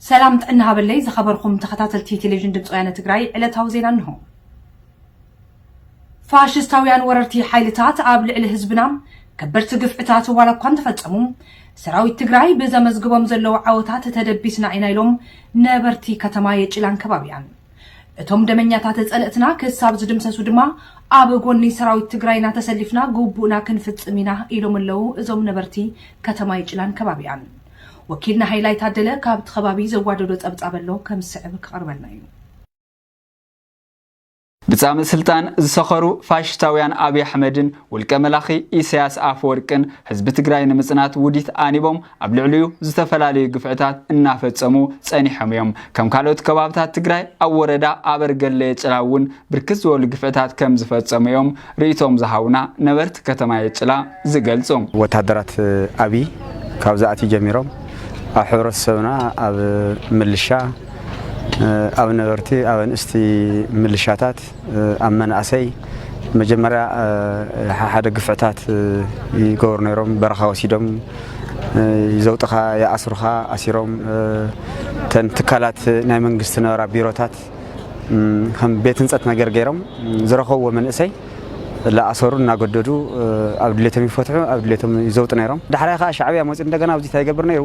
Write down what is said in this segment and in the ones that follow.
ሰላም ጥዕና ሃበለይ ዝኸበርኩም ተኸታተልቲ ቴሌቪዥን ድምፂ ወያነ ትግራይ ዕለታዊ ዜና እንሆ። ፋሽስታውያን ወረርቲ ሓይልታት ኣብ ልዕሊ ህዝብና ከበድቲ ግፍዕታት ዋላ እኳ እንተፈፀሙ ሰራዊት ትግራይ ብዘመዝግቦም ዘለዉ ዓወታት ተደቢስና ኢና ኢሎም ነበርቲ ከተማ የጭላን ከባቢያን እቶም ደመኛታተ ፀለእትና ክሳብ ዝድምሰሱ ድማ ኣብ ጎኒ ሰራዊት ትግራይና ተሰሊፍና ግቡእና ክንፍፅም ኢና ኢሎም ኣለው እዞም ነበርቲ ከተማ ይጭላን ከባቢኣን። ወኪልና ሃይላይ ታደለ ካብቲ ከባቢ ዘዋደዶ ፀብፃብ ኣሎ ከም ዝስዕብ ክቐርበልና እዩ። ብጻምእ ስልጣን ዝሰኸሩ ፋሽስታውያን ኣብይ ኣሕመድን ውልቀ መላኺ ኢሳያስ ኣፈወርቅን ህዝቢ ትግራይ ንምጽናት ውዲት ኣኒቦም ኣብ ልዕሊኡ ዝተፈላለዩ ግፍዕታት እናፈፀሙ ፀኒሖም እዮም። ከም ካልኦት ከባብታት ትግራይ ኣብ ወረዳ ኣበርገለ የጭላ እውን ብርክት ዝበሉ ግፍዕታት ከም ዝፈፀሙ እዮም ርኢቶኦም ዝሃቡና ነበርቲ ከተማ የጭላ ዝገልፁ። ወታደራት ኣብይ ካብ ዝኣትዩ ጀሚሮም ኣብ ሕብረተሰብና ኣብ ምልሻ፣ ኣብ ነበርቲ፣ ኣብ ኣንእስቲ ምልሻታት፣ ኣብ መናእሰይ መጀመርያ ሓሓደ ግፍዕታት ይገበሩ ነይሮም በረኻ ወሲዶም ይዘውጥኻ ይኣስሩኻ ኣሲሮም ተን ትካላት ናይ መንግስቲ ነበራ ቢሮታት ከም ቤት ህንፀት ነገር ገይሮም ዝረኸብዎ መንእሰይ ላኣሰሩ እናገደዱ ኣብ ድሌቶም ይፈትሑ ኣብ ድሌቶም ይዘውጡ ነይሮም ዳሕራይ ከዓ ሻዕብያ መፅኡ እንደገና ኣብዚ እንታይ ይገብር ነይሩ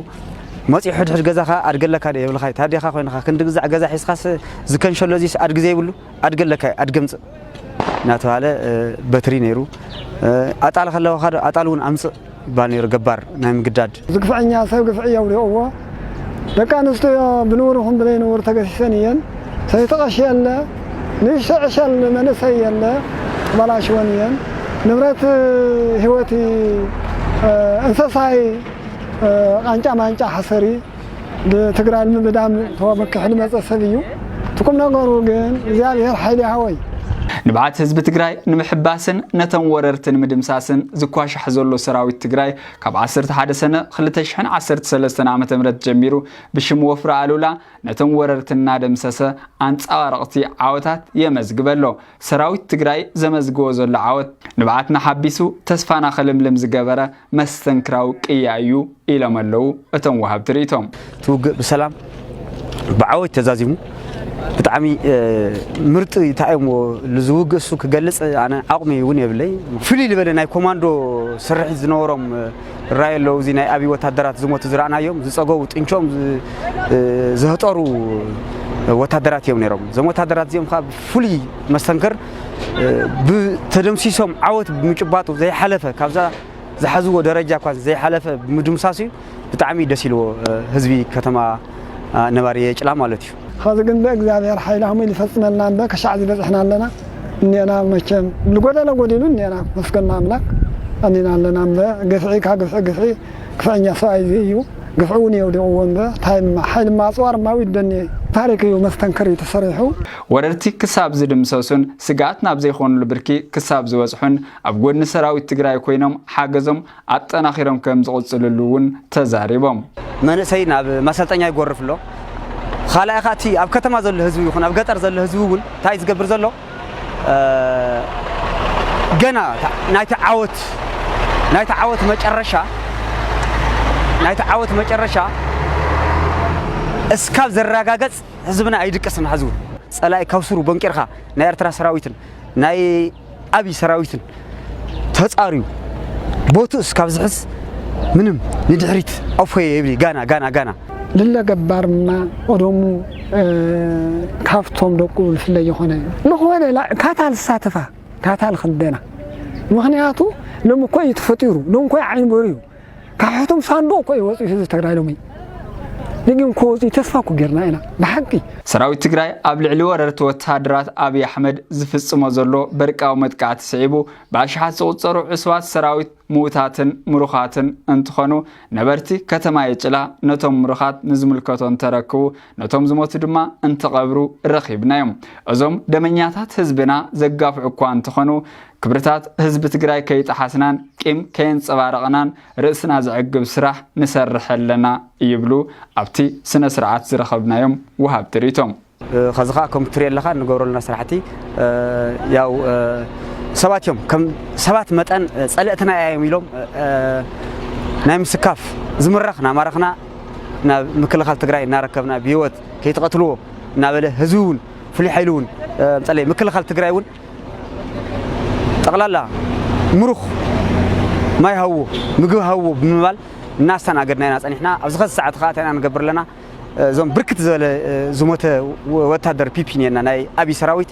መጺኡ ሕድሕድ ገዛኻ ኣድጊ ኣለካ ዶ የብልኻይ ታዴኻ ኮይንኻ ክንዲ ግዛዕ ገዛ ሒዝኻስ ዝከንሸሎ እዚስ ኣድጊ ዘይብሉ ኣድጊ ኣለካይ ኣድጊ ኣምጽእ እናተባህለ በትሪ ነይሩ ኣጣል ከለዋኻ ዶ ኣጣል እውን ኣምጽእ ይባል ነይሩ ገባር ናይ ምግዳድ ዝግፍዐኛ ሰብ ግፍዒ የውድቕዎ ደቂ ኣንስትዮ ብንቡር ይኹን ብዘይንቡር ተገሲሰን እየን ሰይቲ ቐሺ የለ ንእሽቶ ዕሸል መንእሰይ የለ ተበላሽወን እየን ንብረት ህይወት እንሰሳይ ቃንጫ ማንጫ ሓሰሪ ብትግራይ ንምብዳም ተወመኪሑ ልመፀ ሰብ እዩ ትቁም ነገሩ ግን እግዚኣብሔር ሓይሊ ይሃወይ። ንብዓት ህዝቢ ትግራይ ንምሕባስን ነተን ወረርቲ ንምድምሳስን ዝኳሻሕ ዘሎ ሰራዊት ትግራይ ካብ ዓሰርተ ሓደ ሰነ ክልተ ሽሕን ዓሰርተ ሰለስተን ዓመተ ምህረት ጀሚሩ ብሽም ወፍሪ ኣሉላ ነቶም ወረርቲ እናደምሰሰ ኣንፀባረቕቲ ዓወታት የመዝግበ ኣሎ። ሰራዊት ትግራይ ዘመዝግቦ ዘሎ ዓወት ንብዓትና ሓቢሱ ተስፋና ክልምልም ዝገበረ መስተንክራዊ ቅያ እዩ ኢሎም ኣለው እቶም ወሃብቲ ሪኢቶም። እቲ ውግእ ብሰላም ብዓወት ተዛዚሙ ብጣዕሚ ምርጥ ታይሞ ልዝውግ እሱ ክገልጽ ኣነ ዓቕሚ እውን የብለይ ፍልይ ዝበለ ናይ ኮማንዶ ስርሒት ዝነበሮም ራይ ኣለዉ እዚ ናይ ኣብይ ወታደራት ዝሞቱ ዝረኣናዮም ዝፀገቡ ጥንቾም ዝህጠሩ ወታደራት እዮም ነይሮም እዞም ወታደራት እዚኦም ፍሉይ መስተንክር ብተደምሲሶም ዓወት ብምጭባጡ ዘይሓለፈ ካብዛ ዝሓዝዎ ደረጃ እኳ ዘይሓለፈ ብምድምሳሱ እዩ ብጣዕሚ ደስ ኢልዎ ህዝቢ ከተማ ነባሪ የጭላ ማለት እዩ። ኸዚ ግን ብእግዚኣብሔር ሓይሊ ከምኡ ኢሉ ይፈፅመልና እምበ ክሻዕ እዚ በፂሕና ኣለና እኔና መቸም ልጎደለ ጎዲሉ እኔና መስገን ንኣምላክ ኣሊና ኣለና እምበ ግፍዒ ካብ ግፍዒ ግፍዒ ግፍዐኛ ሰብኣይ እዚ እዩ ግፍዒ እውን የውዲቕዎ እምበር ታይ እማ ሓይሊ እማ ኣፅዋር እማ ዊድ ደኔ ታሪክ እዩ መስተንክር እዩ ተሰሪሑ። ወረርቲ ክሳብ ዝድምሰሱን ስግኣት ናብ ዘይኾንሉ ብርኪ ክሳብ ዝበፅሑን ኣብ ጎድኒ ሰራዊት ትግራይ ኮይኖም ሓገዞም ኣጠናኺሮም ከምዝቕፅልሉ እውን ተዛሪቦም። መንእሰይ ናብ ማሰልጠኛ ይጎርፍ ኣሎ። ኻልኣይ ኻዓ እቲ ኣብ ከተማ ዘሎ ህዝቢ ይኹን ኣብ ገጠር ዘሎ ህዝቢ እውን ታይ እዩ ዝገብር ዘሎ? ገና ናይቲ ዓወት ናይቲ ዓወት መጨረሻ ናይቲ ዓወት መጨረሻ እስካብ ዝረጋገጽ ህዝብና ኣይድቅስን ሐዚ እውን ጸላኢ ካብ ስሩ ቦንቂርካ ናይ ኤርትራ ሰራዊትን ናይ ኣብይ ሰራዊትን ተጻርዩ ቦትኡ እስካብ ዝሕዝ ምንም ንድሕሪት ኣፎየ ይብሊ ጋና ጋና ጋና ልለ ገባር እማ ኦዶሙ ካብቶም ደቁ ልፍለ ይኾነ ልኾነ ካታ ልሳተፋ ካታ ልክደና ምክንያቱ ሎም እኮ እዩ ተፈጢሩ ሎም እኮ ዓይኒ በርዩ ካብ ሕቱም ሳንዱቕ እኮ እዩ ወፂኡ ህዝቢ ትግራይ ሎሚ ደጊም እኮ ወፂኡ ተስፋ እኮ ጌርና ኢና ብሓቂ ሰራዊት ትግራይ ኣብ ልዕሊ ወረርቲ ወተሃደራት ኣብይ ኣሕመድ ዝፍፅሞ ዘሎ በርቃዊ መጥቃዕቲ ስዒቡ ብኣሽሓት ዝቑፀሩ ዕሱባት ሰራዊት ምዉታትን ምሩኻትን እንትኾኑ ነበርቲ ከተማ የጭላ ነቶም ምሩኻት ንዝምልከቶ እንተረክቡ ነቶም ዝሞቱ ድማ እንትቐብሩ ረኺብናዮም። እዞም ደመኛታት ህዝብና ዘጋፍዑ እኳ እንተኾኑ ክብርታት ህዝቢ ትግራይ ከይጠሓስናን ቂም ከየንፀባረቕናን ርእስና ዘዕግብ ስራሕ ንሰርሕ ኣለና ይብሉ ኣብቲ ስነ ስርዓት ዝረኸብናዮም ወሃብቲ ሪቶ። ከዚ ከዓ ከም ትሪኦ ኣለካ እንገብረሉና ስራሕቲ ያው ሰባት እዮም ከም ሰባት መጠን ፀለእትና እዮም ኢሎም ናይ ምስካፍ ዝምረኽ ናማረኽና ናብ ምክልኻል ትግራይ እናረከብና ብሂወት ከይትቐትልዎ እናበለ ህዝቢ እውን ፍሉይ ሓይሊ እውን ምፀለይ ምክልኻል ትግራይ እውን ጠቕላላ ምሩኽ ማይ ሃውዎ ምግቢ ሃውዎ ብምባል እናስተናገድና ኢና ፀኒሕና ኣብዚ ከዚ ሰዓት ከዓ እንታይ ኢና ንገብር ኣለና እዞም ብርክት ዝበለ ዝሞተ ወታደር ፒፒ እኒአና ናይ ኣብይ ሰራዊት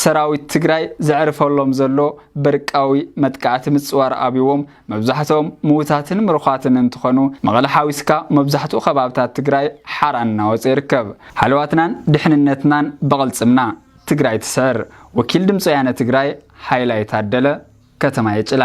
ሰራዊት ትግራይ ዘዕርፈሎም ዘሎ በርቃዊ መጥቃዕቲ ምፅዋር ኣብዎም መብዛሕትኦም ምውታትን ምርዃትን እንትኾኑ መቐለ ሓዊስካ መብዛሕትኡ ከባብታት ትግራይ ሓራ እናወፀ ይርከብ። ሃለዋትናን ድሕንነትናን ብቕልፅምና! ትግራይ ትስዕር! ወኪል ድምፂ ወያነ ትግራይ ሃይላይ ታደለ፣ ከተማ የጭላ።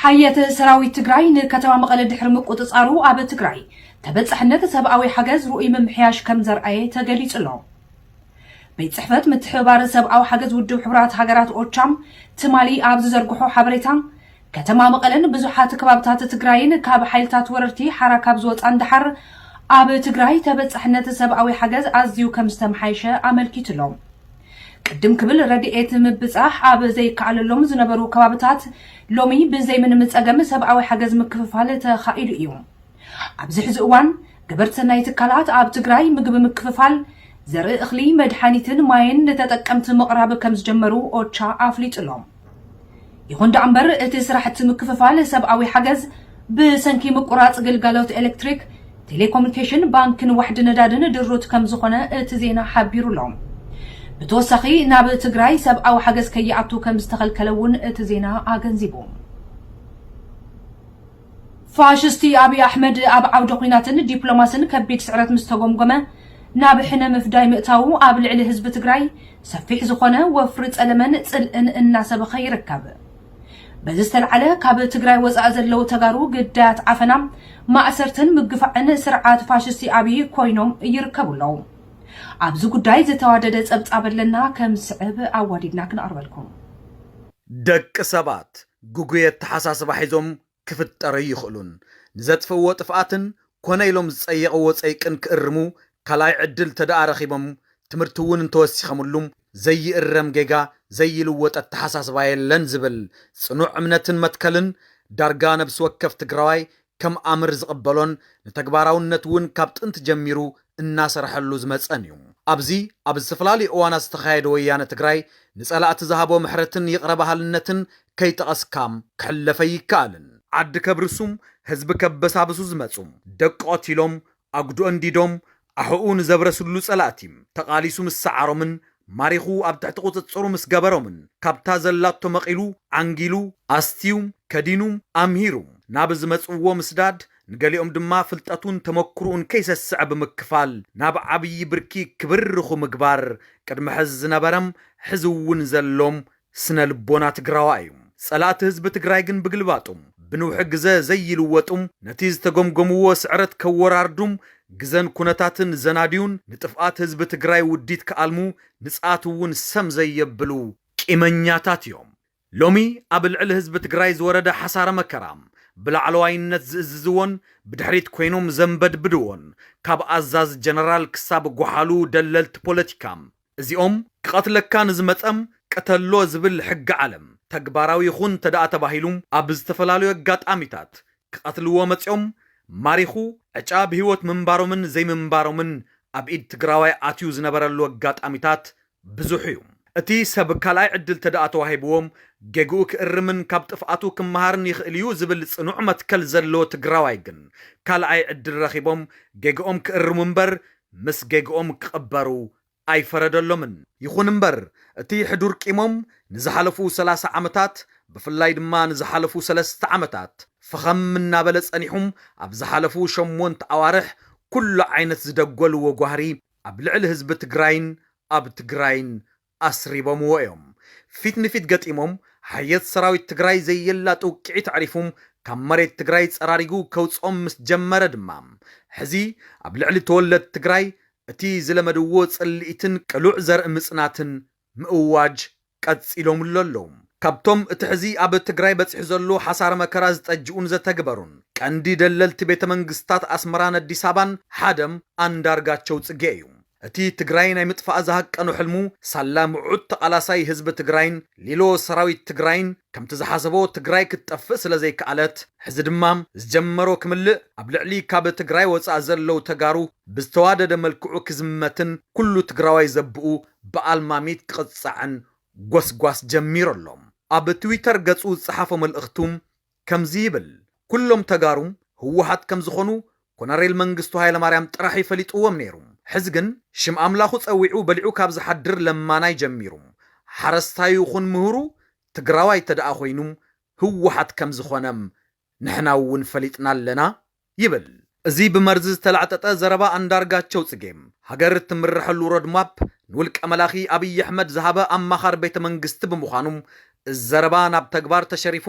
ሓየት ሰራዊት ትግራይ ንከተማ መቐለ ድሕሪ ምቁፅፃሩ ኣብ ትግራይ ተበፃሕነት ሰብኣዊ ሓገዝ ርኡይ ምምሕያሽ ከምዘርኣየ ተገሊፁ'ሎ። ቤት ፅሕፈት ምትሕብባር ሰብኣዊ ሓገዝ ውድብ ሕቡራት ሃገራት ኦቻ ትማሊ ኣብ ዝዘርግሖ ሓበሬታ ከተማ መቐለን ብዙሓት ከባብታት ትግራይን ካብ ሓይልታት ወረርቲ ሓራ ካብ ዝወፃን ደሓር ኣብ ትግራይ ተበፃሕነት ሰብኣዊ ሓገዝ ኣዝዩ ከምዝተመሓየሸ ኣመልኪቱ'ሎ። ቅድም ክብል ረድኤት ምብጻሕ ኣብ ዘይከኣለሎም ዝነበሩ ከባብታት ሎሚ ብዘይምንም ጸገም ሰብኣዊ ሓገዝ ምክፍፋል ተኻኢሉ እዩ። ኣብዚ ሕዚ እዋን ገበርቲ ሰናይ ትካላት ኣብ ትግራይ ምግቢ ምክፍፋል፣ ዘርኢ እኽሊ፣ መድሓኒትን ማይን ንተጠቀምቲ ምቕራብ ከምዝጀመሩ ኦቻ ኣፍሊጡ'ሎ። ይኹን ደኣምበር እቲ ስራሕቲ ምክፍፋል ሰብኣዊ ሓገዝ ብሰንኪ ምቁራፅ ግልጋሎት ኤሌክትሪክ፣ ቴሌኮሙኒኬሽን፣ ባንክን ዋሕዲ ነዳድን ድሩት ከምዝኾነ እቲ ዜና ሓቢሩ ኣሎ። ብተወሳኺ ናብ ትግራይ ሰብኣዊ ሓገዝ ከይኣቱ ከምዝተኸልከለ እውን እቲ ዜና ኣገንዚቡ። ፋሽስቲ ኣብይ ኣሕመድ ኣብ ዓውደ ኹናትን ዲፕሎማስን ከቢድ ስዕረት ምስ ተጎምጎመ ናብ ሕነ ምፍዳይ ምእታዉ ኣብ ልዕሊ ህዝቢ ትግራይ ሰፊሕ ዝኾነ ወፍሪ ጸለመን ጽልእን እናሰበኸ ይርከብ። በዚ ዝተልዓለ ካብ ትግራይ ወጻኢ ዘለዉ ተጋሩ ግዳያት ዓፈና፣ ማእሰርትን ምግፋዕን ስርዓት ፋሽስቲ ኣብይ ኮይኖም ይርከቡ ኣለዉ። ኣብዚ ጉዳይ ዝተዋደደ ጸብጻብ ኣለና ከም ዝስዕብ ኣዋዲድና ክነቕርበልኩም። ደቂ ሰባት ግጉይ ኣተሓሳስባ ሒዞም ክፍጠሩ ኣይኽእሉን። ንዘጥፍእዎ ጥፍኣትን ኮነ ኢሎም ዝፀየቕዎ ፀይቅን ክእርሙ ካልኣይ ዕድል ተድኣ ረኺቦም ትምህርቲ እውን እንተወሲኸምሉ ዘይእረም ጌጋ ዘይልወጥ ኣተሓሳስባ የለን ዝብል ፅኑዕ እምነትን መትከልን ዳርጋ ነብሲ ወከፍ ትግራዋይ ከም ኣምር ዝቕበሎን ንተግባራውነት እውን ካብ ጥንቲ ጀሚሩ እናሰርሐሉ ዝመፀን እዩ። ኣብዚ ኣብ ዝተፈላለዩ እዋናት ዝተኻየደ ወያነ ትግራይ ንፀላእቲ ዝሃቦ ምሕረትን ይቕረ በሃልነትን ከይጠቐስካ ክሕለፍ ኣይከኣልን። ዓዲ ከብርሱ፣ ህዝቢ ከበሳብሱ ዝመፁ፣ ደቂ ቐቲሎም፣ ኣጉዶ ኣንዲዶም ኣሕኡ ንዘብረስሉ ጸላእቲ ተቓሊሱ ምስ ሰዓሮምን ማሪኹ ኣብ ትሕቲ ቁጽጽሩ ምስ ገበሮምን ካብታ ዘላቶ መቒሉ ዓንጊሉ ኣስትዩ ከዲኑ ኣምሂሩ ናብ ዝመጽዎ ምስዳድ ንገሊኦም ድማ ፍልጠቱን ተመኩርኡን ከይሰስዐ ብምክፋል ናብ ዓብዪ ብርኪ ክብርርኹ ምግባር ቅድሚ ሕዚ ዝነበረም ሕዚ እውን ዘሎም ስነ ልቦና ትግራዋይ እዩ ፀላእቲ ህዝቢ ትግራይ ግን ብግልባጡ ብንውሒ ግዘ ዘይልወጡም ነቲ ዝተገምገምዎ ስዕረት ከወራርዱም ግዘን ኩነታትን ዘናድዩን ንጥፍኣት ህዝቢ ትግራይ ውዲት ክኣልሙ ንፅኣት እውን ሰም ዘየብሉ ቂመኛታት እዮም ሎሚ ኣብ ልዕሊ ህዝቢ ትግራይ ዝወረደ ሓሳረ መከራ ብላዕለዋይነት ዝእዝዝዎን ብድሕሪት ኮይኖም ዘንበድብድዎን ካብ ኣዛዚ ጀነራል ክሳብ ጎሓሉ ደለልቲ ፖለቲካ እዚኦም ክቐትለካ ንዝመጸ ቅተሎ ዝብል ሕጊ ዓለም ተግባራዊ ይኹን እንተድኣ ተባሂሉ ኣብ ዝተፈላለዩ ኣጋጣሚታት ክቐትልዎ መጺኦም ማሪኹ ዕጫ ብህይወት ምንባሮምን ዘይምንባሮምን ኣብ ኢድ ትግራዋይ ኣትዩ ዝነበረሉ ኣጋጣሚታት ብዙሕ እዩ። እቲ ሰብ ካልኣይ ዕድል ተድኣ ተዋሂብዎ ጌግኡ ክእርምን ካብ ጥፍኣቱ ክመሃርን ይኽእል እዩ ዝብል ጽኑዕ መትከል ዘለዎ ትግራዋይ ግን ካልኣይ ዕድል ረኺቦም ጌግኦም ክእርሙ እምበር ምስ ጌግኦም ክቕበሩ ኣይፈረደሎምን። ይኹን እምበር፣ እቲ ሕዱር ቂሞም ንዝሓለፉ ሰላሳ ዓመታት፣ ብፍላይ ድማ ንዝሓለፉ ሰለስተ ዓመታት፣ ፈኸም እናበለ ጸኒሑም ኣብ ዝሓለፉ ሸሞንተ ኣዋርሕ ኩሉ ዓይነት ዝደጎልዎ ጓህሪ ኣብ ልዕሊ ህዝቢ ትግራይን ኣብ ትግራይን ኣስሪቦምዎ እዮም። ፊት ንፊት ገጢሞም ሓየት ሰራዊት ትግራይ ዘየላ ጥውቂዒት ኣዕሪፉ ካብ መሬት ትግራይ ፀራሪጉ ከውፅኦም ምስ ጀመረ ድማ ሕዚ ኣብ ልዕሊ ተወለድቲ ትግራይ እቲ ዝለመድዎ ፅልኢትን ቅሉዕ ዘርኢ ምፅናትን ምእዋጅ ቀፂሎምሉ ኣለዉ። ካብቶም እቲ ሕዚ ኣብ ትግራይ በፂሑ ዘሎ ሓሳረ መከራ ዝጠጅኡን ዘተግበሩን ቀንዲ ደለልቲ ቤተ መንግስትታት ኣስመራን ኣዲስ ኣበባን ሓደም ኣንዳርጋቸው ፅጌ እዩ። እቲ ትግራይ ናይ ምጥፋእ ዝሃቀኖ ሕልሙ ሳላ ምዑት ተቓላሳይ ህዝቢ ትግራይን ሊሎ ሰራዊት ትግራይን ከምቲ ዝሓሰቦ ትግራይ ክትጠፍእ ስለዘይከኣለት ሕዚ ድማ ዝጀመሮ ክምልእ ኣብ ልዕሊ ካብ ትግራይ ወፃእ ዘለው ተጋሩ ብዝተዋደደ መልክዑ ክዝመትን ኩሉ ትግራዋይ ዘብኡ ብኣልማሚት ክቕፃዕን ጎስጓስ ጀሚሩ ኣሎ። ኣብ ትዊተር ገፁ ዝፀሓፎ መልእኽቱ ከምዚ ይብል ኩሎም ተጋሩ ህወሓት ከምዝኾኑ ኮነሬል መንግስቱ ሃይለማርያም ጥራሕ እዩ ፈሊጥዎም ነይሩ ሕዚ ግን ሽም ኣምላኹ ፀዊዑ በሊዑ ካብ ዝሓድር ለማናይ ጀሚሩ ሓረስታዩ ይኹን ምሁሩ ትግራዋይ ተደኣ ኾይኑ ህወሓት ከምዝኾነ ንሕናውን ፈሊጥና ኣለና ይብል እዚ ብመርዚ ዝተላዕጠጠ ዘረባ ኣንዳርጋቸው ጽጌ። ሃገር ትምረሐሉ ሮድማፕ ንውልቀ መላኺ ኣብይ ኣሕመድ ዝሃበ ኣማኻር ቤተ መንግስቲ ብምዃኑ እዚ ዘረባ ናብ ተግባር ተሸሪፉ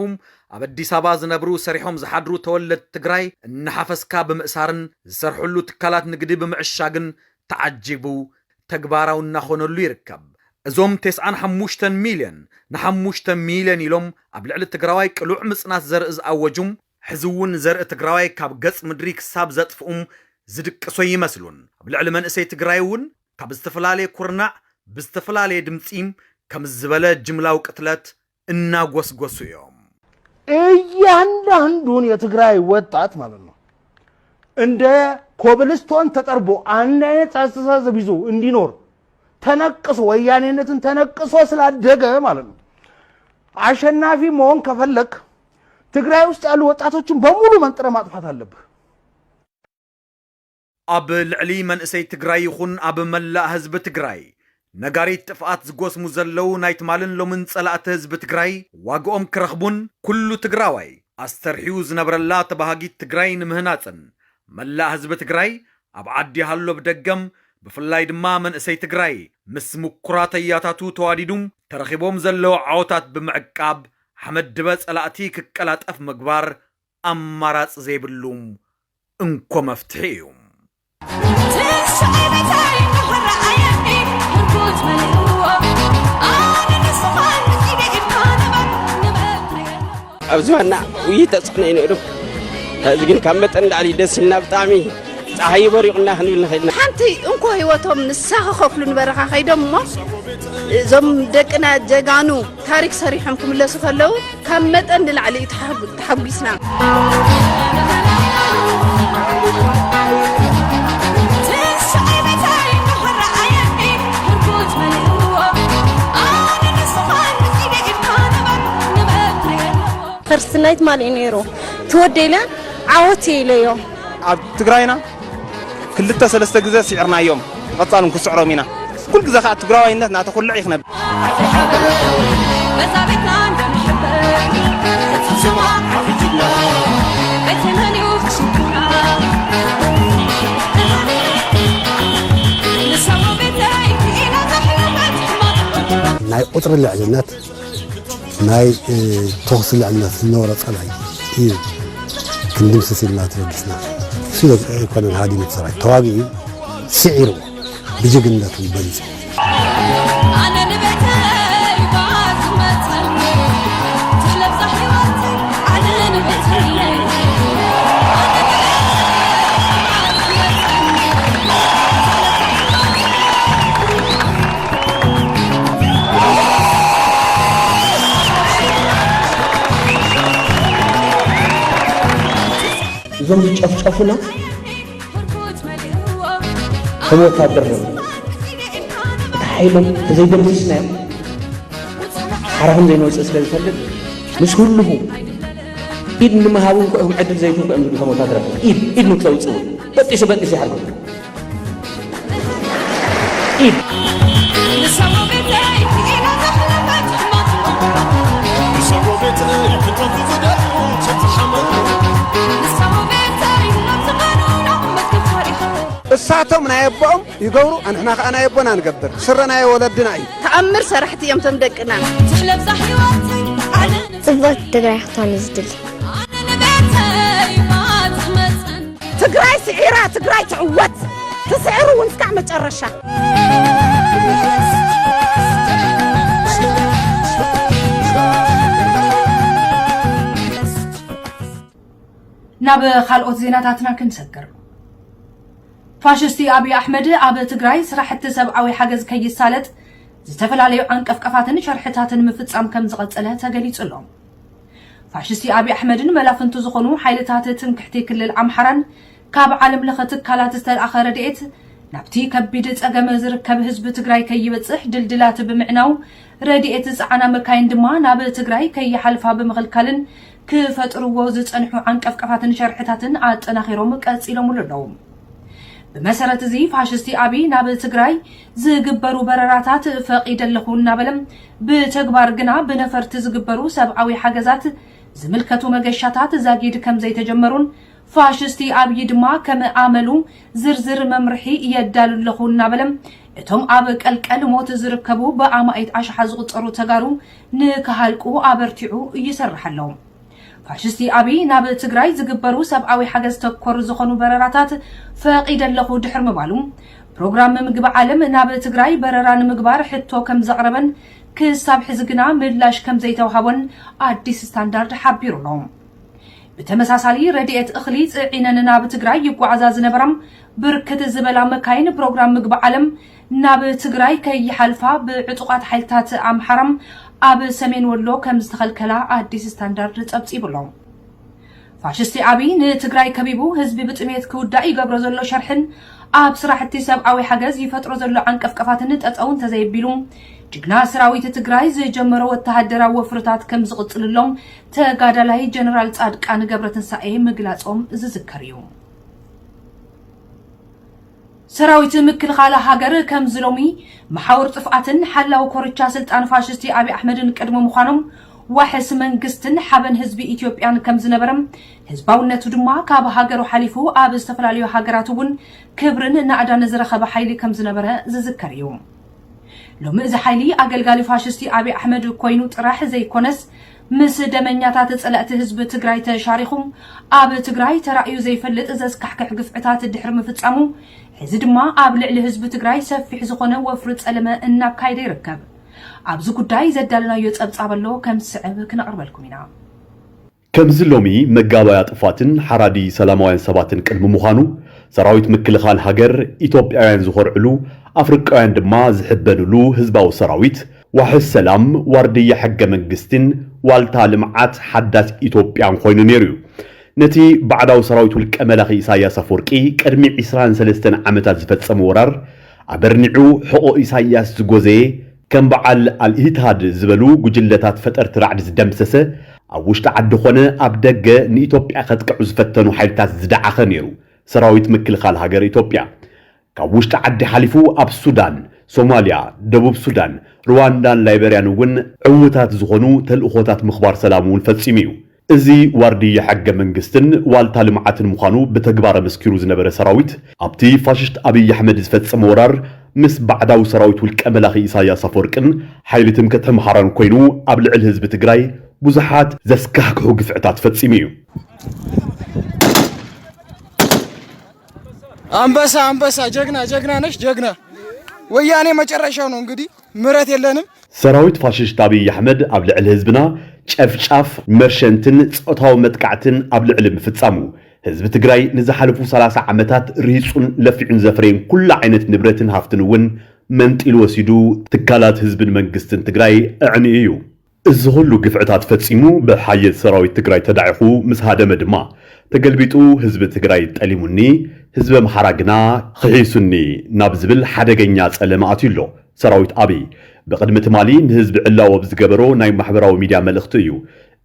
ኣብ ኣዲስ ኣበባ ዝነብሩ ሰሪሖም ዝሓድሩ ተወለድቲ ትግራይ እናሓፈስካ ብምእሳርን ዝሰርሕሉ ትካላት ንግዲ ብምዕሻግን ተዓጂቡ ተግባራዊ እናኾነሉ ይርከብ። እዞም ቴስዓን ሓሙሽተን ሚልዮን ንሓሙሽተ ሚልዮን ኢሎም ኣብ ልዕሊ ትግራዋይ ቅሉዕ ምጽናት ዘርኢ ዝኣወጁ፣ ሕዚ እውን ዘርኢ ትግራዋይ ካብ ገፅ ምድሪ ክሳብ ዘጥፍኡም ዝድቅሱ ኣይመስሉን። ኣብ ልዕሊ መንእሰይ ትግራይ እውን ካብ ዝተፈላለየ ኩርናዕ ብዝተፈላለየ ድምፂ ከምዚ ዝበለ ጅምላዊ ቅትለት እናጎስጎሱ እዮም። እያንዳንዱን የትግራይ ወጣት ማለት ነው እንደ ኮብልስቶን ተጠርቦ አንድ አይነት አስተሳሰብ ይዞ እንዲኖር ተነቅሶ ወያኔነትን ተነቅሶ ስላደገ ማለት ነው። አሸናፊ መሆን ከፈለክ ትግራይ ውስጥ ያሉ ወጣቶችን በሙሉ መንጥረ ማጥፋት አለብህ። ኣብ ልዕሊ መንእሰይ ትግራይ ይኹን ኣብ መላእ ህዝቢ ትግራይ ነጋሪት ጥፍኣት ዝጎስሙ ዘለዉ ናይ ትማልን ሎምን ጸላእቲ ህዝቢ ትግራይ ዋግኦም ክረኽቡን ኩሉ ትግራዋይ ኣስተርሕዩ ዝነብረላ ተባሃጊት ትግራይ ንምህናጽን መላእ ህዝቢ ትግራይ ኣብ ዓዲ ሃሎ ብደገም ብፍላይ ድማ መንእሰይ ትግራይ ምስ ምኩራት ኣያታቱ ተዋዲዱም ተረኺቦም ዘለዉ ዓወታት ብምዕቃብ ሓመድ ድበ ፀላእቲ ክቀላጠፍ ምግባር ኣማራፂ ዘይብሉ እንኮ መፍትሒ እዩ። ኣብዚ ዋና ውይ ተፅዕኖ እዩ ነይሩ ሕዚ ግን ካብ መጠን ንላዕሊ ደስ ኢልና ብጣዕሚ ፀሓይ በሪቑና ክንብል ንኽእል ኢና ሓንቲ እንኮ ህይወቶም ንሳ ክኸፍሉ ንበረኻ ከይዶም እሞ እዞም ደቅና ጀጋኑ ታሪክ ሰሪሖም ክምለሱ ከለው ካብ መጠን ንላዕሊ እዩ ተሓጒስና። ፈርስት ናይት ማልእ ነይሩ ትወደኢለ ዓወት ኢለዮ ኣብ ትግራይና ክልተ ሰለስተ ግዘ ሲዕርናዮም ብቀፃሉ ን ክስዕሮም ኢና ኩሉ ግዘ ካዓ ትግራዋይነት ናተኹልዕ እዩ ክነብር። ናይ ቁፅሪ ልዕልነት ናይ ተኹሲ ልዕልና ዝነበሮ ፀላኢ እዩ ክንድምስስ ኢልና ተበጊስና ስለ ኣይኮነን ሃዲሙ ሰራዊት ተዋጊኡ ስዒርዎ ብጅግንነቱ በሊፁ እዞም ዝጨፍጨፉና ከም ወታደር ነ እቲ ሓይሎም ተዘይደምስስናዮም ሓራ ከም ዘይንወፅእ ስለ ዝፈልጥ ምስ ህልኹ ኢድ ንምሃብ እውን ክኦም ዕድል ዘይትንኩ እዮም ዝብሉ ከም ወታደራት ኢድ ኢድ ንክተውፅእ እውን በጢሱ በጢሱ ይሓርጉ እሳቶም ናይ ኣቦኦም ይገብሩ ኣንሕና ከዓ ናይ ኣቦና ንገብር ስረ ናይ ወለድና እዩ ተኣምር ሰራሕቲ እዮም ቶም ደቅና ፅብቕቲ ትግራይ ክትኾን እዩ ዝድሊ ትግራይ ስዒራ ትግራይ ትዕወት ትስዕር እውን እስካዕ መጨረሻ። ናብ ካልኦት ዜናታትና ክንሰግር ፋሽስቲ ኣብዪ ኣሕመድ ኣብ ትግራይ ስራሕቲ ሰብኣዊ ሓገዝ ከይሳለጥ ዝተፈላለዩ ዓንቀፍቀፋትን ሸርሕታትን ምፍፃም ከም ዝቐፀለ ተገሊፁ ኣሎ ፋሽስቲ ኣብይ ኣሕመድን መላፍንቱ ዝኾኑ ሓይልታት ትምክሕቲ ክልል ኣምሓራን ካብ ዓለም ለኸ ትካላት ዝተልኣኸ ረድኤት ናብቲ ከቢድ ፀገም ዝርከብ ህዝቢ ትግራይ ከይበፅሕ ድልድላት ብምዕናው ረድኤት ዝፀዓና መካይን ድማ ናብ ትግራይ ከይሓልፋ ብምኽልካልን ክፈጥርዎ ዝፀንሑ ዓንቀፍቀፋትን ሸርሕታትን ኣጠናኺሮም ቀፂሎምሉ ኣለዉ። ብመሰረት እዚ ፋሽስቲ ኣብይ ናብ ትግራይ ዝግበሩ በረራታት ፈቒደ ኣለኹ እናበለ ብተግባር ግና ብነፈርቲ ዝግበሩ ሰብኣዊ ሓገዛት ዝምልከቱ መገሻታት ዛጊድ ከምዘይተጀመሩን ፋሽስቲ ኣብዪ ድማ ከም ኣመሉ ዝርዝር መምርሒ የዳሉ ኣለኹ እናበለ እቶም ኣብ ቀልቀል ሞት ዝርከቡ ብኣማኢት ኣሽሓ ዝቑፀሩ ተጋሩ ንክሃልቁ ኣበርቲዑ ይሰርሕ ኣሎ። ፋሽስቲ ኣብይ ናብ ትግራይ ዝግበሩ ሰብኣዊ ሓገዝ ተኮር ዝኾኑ በረራታት ፈቒደ ኣለኹ ድሕሪ ምባሉ፣ ፕሮግራም ምግቢ ዓለም ናብ ትግራይ በረራ ንምግባር ሕቶ ከምዘቕረበን ክሳብ ሕዚ ግና ምላሽ ከምዘይተውሃቦን ኣዲስ ስታንዳርድ ሓቢሩ ኣሎ። ብተመሳሳሊ ረድኤት እኽሊ ፅዒነን ናብ ትግራይ ይጓዓዛ ዝነበራ ብርክት ዝበላ መካይን ፕሮግራም ምግቢ ዓለም ናብ ትግራይ ከይሓልፋ ብዕጡቓት ሓይልታት ኣምሓራ ኣብ ሰሜን ወሎ ከምዝተኸልከላ ኣዲስ ስታንዳርድ ፀብፂቡ ኣሎ። ፋሽስቲ ኣብይ ንትግራይ ከቢቡ ህዝቢ ብጥሜት ክውዳእ ይገብሮ ዘሎ ሸርሕን ኣብ ስራሕቲ ሰብኣዊ ሓገዝ ይፈጥሮ ዘሎ ዓንቀፍቀፋትን ጠጠው እንተዘየቢሉ ጅግና ሰራዊት ትግራይ ዝጀመሮ ወተሃደራዊ ወፍርታት ከምዝቕፅልሎም ተጋዳላይ ጀነራል ፃድቃን ገብረትንሳኤ ምግላፆም ዝዝከር እዩ። ሰራዊት ምክልኻል ሃገር ከምዚ ሎሚ መሓውር ጥፍኣትን ሓላዊ ኮርቻ ስልጣን ፋሽስቲ ኣብይ ኣሕመድን ቅድሚ ምዃኖም ዋሕስ መንግስትን ሓበን ህዝቢ ኢትዮጵያን ከምዝነበረ ህዝባውነቱ ድማ ካብ ሃገሩ ሓሊፉ ኣብ ዝተፈላለዩ ሃገራት እውን ክብርን ናእዳን ዝረኸበ ሓይሊ ከምዝነበረ ዝዝከር እዩ። ሎሚ እዚ ሓይሊ ኣገልጋሊ ፋሽስቲ ኣብይ ኣሕመድ ኮይኑ ጥራሕ ዘይኮነስ ምስ ደመኛታት ፀለእቲ ህዝቢ ትግራይ ተሻሪኹም ኣብ ትግራይ ተራእዩ ዘይፈልጥ ዘስካሕክሕ ግፍዕታት ድሕሪ ምፍፃሙ ሕዚ ድማ ኣብ ልዕሊ ህዝቢ ትግራይ ሰፊሕ ዝኾነ ወፍሪ ፀለመ እናካየደ ይርከብ። ኣብዚ ጉዳይ ዘዳለናዮ ፀብፃብ ኣሎ ከም ዝስዕብ ክነቕርበልኩም ኢና። ከምዚ ሎሚ መጋባእያ ጥፋትን ሓራዲ ሰላማውያን ሰባትን ቅድሚ ምዃኑ ሰራዊት ምክልኻል ሃገር ኢትዮጵያውያን ዝኾርዕሉ ኣፍርቃውያን ድማ ዝሕበንሉ ህዝባዊ ሰራዊት ዋሕስ ሰላም፣ ዋርድያ ሕገ መንግስቲን ዋልታ ልምዓት ሓዳስ ኢትዮጵያን ኮይኑ ነይሩ እዩ። ነቲ ባዕዳዊ ሰራዊት ውልቀ መላኺ ኢሳይያስ ኣፍወርቂ ቅድሚ ዕስራን ሰለስተን ዓመታት ዝፈጸሞ ወራር ኣበርኒዑ ሕቖ ኢሳይያስ ዝጎዘየ ከም በዓል ኣልኢትሃድ ዝበሉ ጉጅለታት ፈጠርቲ ራዕዲ ዝደምሰሰ ኣብ ውሽጢ ዓዲ ኮነ ኣብ ደገ ንኢትዮጵያ ከጥቅዑ ዝፈተኑ ሓይልታት ዝደዓኸ ነይሩ ሰራዊት ምክልኻል ሃገር ኢትዮጵያ። ካብ ውሽጢ ዓዲ ሓሊፉ ኣብ ሱዳን፣ ሶማልያ፣ ደቡብ ሱዳን፣ ርዋንዳን ላይበርያን እውን ዕዉታት ዝኾኑ ተልእኾታት ምኽባር ሰላም እውን ፈፂሙ እዩ። እዚ ዋርድያ ሕገ መንግስትን ዋልታ ልምዓትን ምዃኑ ብተግባር ኣመስኪሩ ዝነበረ ሰራዊት ኣብቲ ፋሽስት ኣብይ ኣሕመድ ዝፈፀመ ወራር ምስ ባዕዳዊ ሰራዊት ውልቀ መላኺ ኢሳያስ ኣፈወርቅን ሓይሊ ትምክሕቲ ኣምሓራን ኮይኑ ኣብ ልዕሊ ህዝቢ ትግራይ ብዙሓት ዘስካሕክሑ ግፍዕታት ፈፂሙ እዩ። አንበሳ አንበሳ ጀግና ጀግና ነሽ ጀግና። ወያኔ መጨረሻው ነው እንግዲህ ምረት የለንም። ሰራዊት ፋሽስት ኣብይ ኣሕመድ ኣብ ልዕሊ ህዝብና ጨፍጫፍ፣ መርሸንትን ፆታዊ መጥቃዕትን ኣብ ልዕሊ ምፍፃሙ ህዝቢ ትግራይ ንዝሓለፉ ሰላሳ ዓመታት ርሂፁን ለፊዑን ዘፍረየን ኩሉ ዓይነት ንብረትን ሃፍትን እውን መንጢሉ ወሲዱ ትካላት ህዝብን መንግስትን ትግራይ ኣዕንዩ እዩ። እዚ ኹሉ ግፍዕታት ፈፂሙ ብሓየት ሰራዊት ትግራይ ተዳዒኹ ምስ ሃደመ ድማ ተገልቢጡ ህዝቢ ትግራይ ጠሊሙኒ ህዝቢ ኣምሓራ ግና ኽሒሱኒ ናብ ዝብል ሓደገኛ ፀለመ ኣትዩ ኣሎ ሰራዊት ኣብይ። ብቕድሚ ትማሊ ንህዝቢ ዕላዊ ኣብ ዝገበሮ ናይ ማሕበራዊ ሚድያ መልእኽቱ እዩ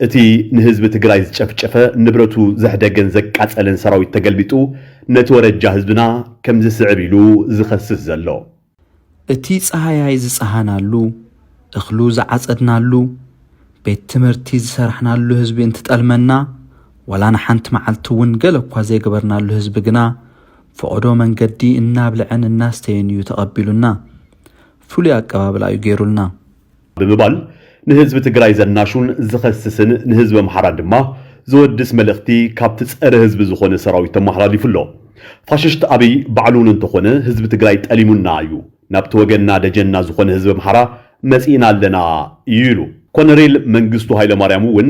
እቲ ንህዝቢ ትግራይ ዝጨፍጨፈ ንብረቱ ዘሕደገን ዘቃፀለን ሰራዊት ተገልቢጡ ነቲ ወረጃ ህዝብና ከም ዝስዕብ ኢሉ ዝኸስስ ዘሎ። እቲ ጸሃያይ ዝጸሃናሉ፣ እኽሉ ዝዓጸድናሉ፣ ቤት ትምህርቲ ዝሰራሕናሉ ህዝቢ እንትጠልመና፣ ዋላ ንሓንቲ መዓልቲ እውን ገለ እኳ ዘይገበርናሉ ህዝቢ ግና ፈቐዶ መንገዲ እናብልዐን እናስተየን እዩ ተቐቢሉና። ፍሉይ ኣቀባብላ እዩ ገይሩልና። ብምባል ንህዝቢ ትግራይ ዘናሹን ዝኸስስን ንህዝቢ ኣምሓራ ድማ ዘወድስ መልእኽቲ ካብቲ ፀረ ህዝቢ ዝኾነ ሰራዊት ተመሓላሊፉ ኣሎ። ፋሽስት ኣብይ ባዕሉ እውን እንተኾነ ህዝቢ ትግራይ ጠሊሙና እዩ፣ ናብቲ ወገንና ደጀንና ዝኾነ ህዝቢ ኣምሓራ መፂእና ኣለና እዩ ኢሉ። ኮነሬል መንግስቱ ሃይለማርያም እውን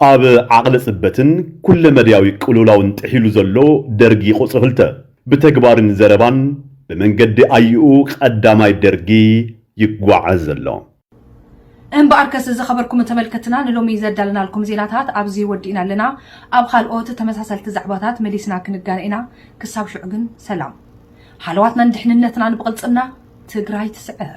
ኣብ ዓቕሊ ጽበትን ኩለመዳያዊ ቅልውላውን ጥሒሉ ዘሎ ደርጊ ቁጽሪ ክልተ፣ ብተግባርን ዘረባን ብመንገዲ ኣይኡ ቐዳማይ ደርጊ ይጓዓዝ ዘሎ። እምበኣርከስ ዝኸበርኩም ተመልከትና ንሎሚ ዘዳለናልኩም ዜናታት ኣብዚ ወዲእና ኣለና። ኣብ ኻልኦት ተመሳሰልቲ ዛዕባታት መሊስና ክንጋነ ኢና። ክሳብ ሽዑ ግን ሰላም። ሃለዋትናን ድሕንነትናን ብቕልጽምና! ትግራይ ትስዕር!